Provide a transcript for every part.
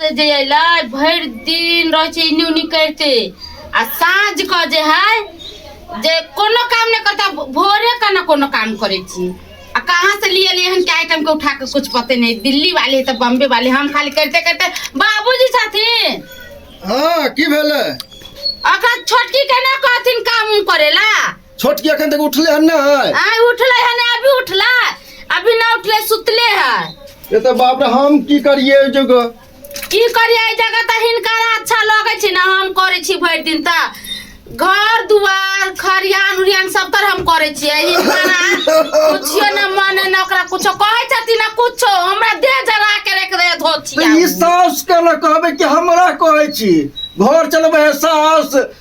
से जे अयलै भरि दिन रहै छै इन्नी उन्नी करिते आ साँझ कऽ जे है जे कोनो काम नहि करता भोरे के ने कोनो काम करै छी आ कहाँ से लिए लिए हन के आइटम के उठा के कुछ पते नहीं दिल्ली वाले है तो बॉम्बे वाले हम खाली करते करते बाबूजी छथिन हाँ की भेलै ओकरा छोटकी के ना कहथिन काम उम करेला छोटकी अखन तक उठले हन ना है आय उठले है ना अभी उठला अभी ना उठले सुतले है ये तो बाप रे हम की करिए जुग की करिए एहि जगह तऽ हिनकर अच्छा लगै छै ने हम करै छी भरि दिन तऽ घर दुआर खरियान उरियान सब तर हम करै छियै हिनकरा कुछियो ने मने ने ओकरा कुछो कहै छथिन ने कुछो हमरा देह जरा के रख दे तो धोतिया ई सास के ना कहबे कि हमरा कहै छी घर चलबे है सास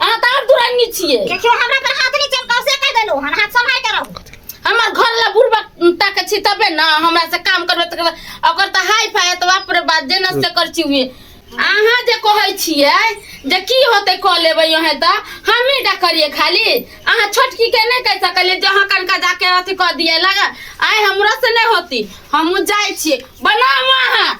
अहाँ तऽ आर दुरानी छियै देखियो हमरा पर हाथ नहीं चमकाओ से कह देलो हन हाथ संभाल के रहो हमर घर ला बुढ़बा तक छी तबे ना हमरा से काम करबे तकर बाद ओकर तऽ हाई फाई तऽ बाप रे बाप जेना से कर छी उहे अहाँ जे कहै छियै जे की होतै कऽ लेबै अहें तऽ हमही टा करिए खाली अहाँ छोटकी के नहि कहि सकलियै जे अहाँ कनका जाके अथी कऽ दिए लगा आइ हमरा से नहि होती हमहूँ जाइ छियै बनाउ अहाँ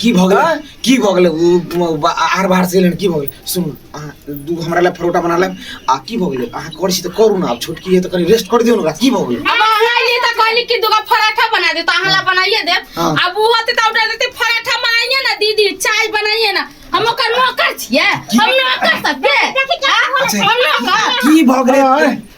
की भऽ गेलै आँय? की भऽ गेलै उ म- बा- आर बाहर से एलन की भऽ गेलै सुनू अहाँ दू हमरा लए परोटा बना लेब आ की भऽ गेलै अहाँ करै छी तऽ करू ने आब छोटकी है तऽ कनि रेस्ट कर दियौ ने ओकरा की भऽ गेलै अब अहाँ लिए तऽ कहली कि दूगो पराठा बना दे तऽ अहाँ ला बनाइए देब हाँ। अब वो होते तऽ ऑर्डर देते पराठा बनाइए ना दीदी चाय बनाइए ना हम ओकर नौकर छियै हम नौकर सब दे हाँ? अच्छा। हम नौकर की भऽ गेलै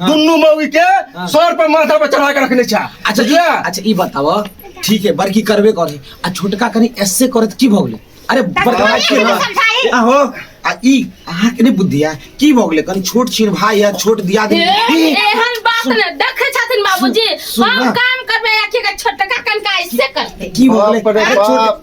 हाँ। दुनू मौगी के हाँ। सर पर माथा पर चढ़ा के रखने छा अच्छा बुझलियै? अच्छा ई बताओ ठीक है बड़की करबे करे आ छोटका कनी ऐसे करे त की भ गेले अरे बड़का भाई के ना समझाई। आहो आ ई अहाँ के नहीं बुद्धि है की भ गेले कनी छोट छीन भाई है छोट दिया दे ए- एहन बात ने देखे छथिन बाबूजी सुन- सुन हम ना। काम करबे आखिर के छोटका कनका ऐसे करते की भ गेले बाप रे अरे छोट बाप।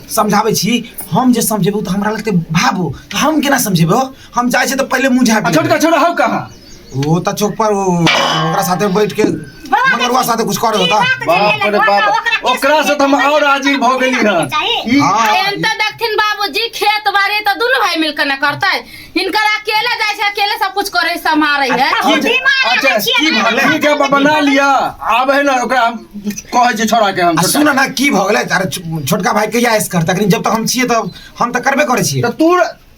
समझाबै छी हम जे समझेबौ तऽ हमरा लगते भाबो तऽ हम केना समझेबौ हम जाइ छी तऽ पहिले मुँह झाँपि आ छोटका छोरा हौ कहाँ लेबै। ओ तऽ चौक पर ओ, ओकरा साथे बैठ के मगरुआ साथे कुछ करे होता बाप रे बाप ओकरा से तऽ हम और आजिल भऽ गेली हन ई हाँ। एम तऽ देखथिन बाबूजी खेत बाड़ी तऽ दुनू भाई मिलकर न करतै इनकर अकेले जाय छै अकेले सब कुछ करे समारे है अच्छा, बीमार अच्छा, रहै छियै की ने। भले ठीक है बाबा, बना लिया आब है ना ओकरा हम कहै छै छोड़ा के हम आ सुन ना की भऽ गेलै अरे छो- छोटका भाई कहिया ऐस करता लेकिन जब तक हम छियै तब हम तऽ करबे करै छियै तो तू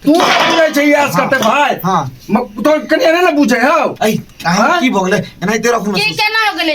तू बुझै छै यास करते भाई हाँ। म- तो कनिया नहीं ना बुझे हो ऐ अहाँ हाँ? की भऽ गेलै एनाहिते रखू की केना हो गेलै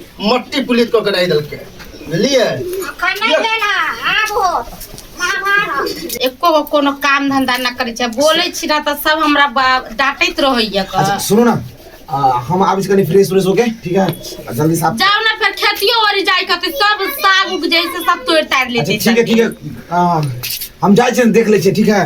मट्टी पुलित कऽ के राखि देलकै बुझलियै अखन नहि लेल हँ, आब हो महाभारत एको गो कोनो काम धंधा ना करै छै बोलै छी ना तऽ सब हमरा बा- डांटैत रहैया क अच्छा सुनो ना आ, हम आबि कनी फ्रेश फ्रेश होके ठीक है आ, जल्दी साफ जाओ ना फिर खेतियो ओरी जाय कते सब साग उग जैसे सब तोड़ ताड़ अच्छा लेते ठीक है ठीक है आ, हम जाइ छियै देख लै छियै ठीक है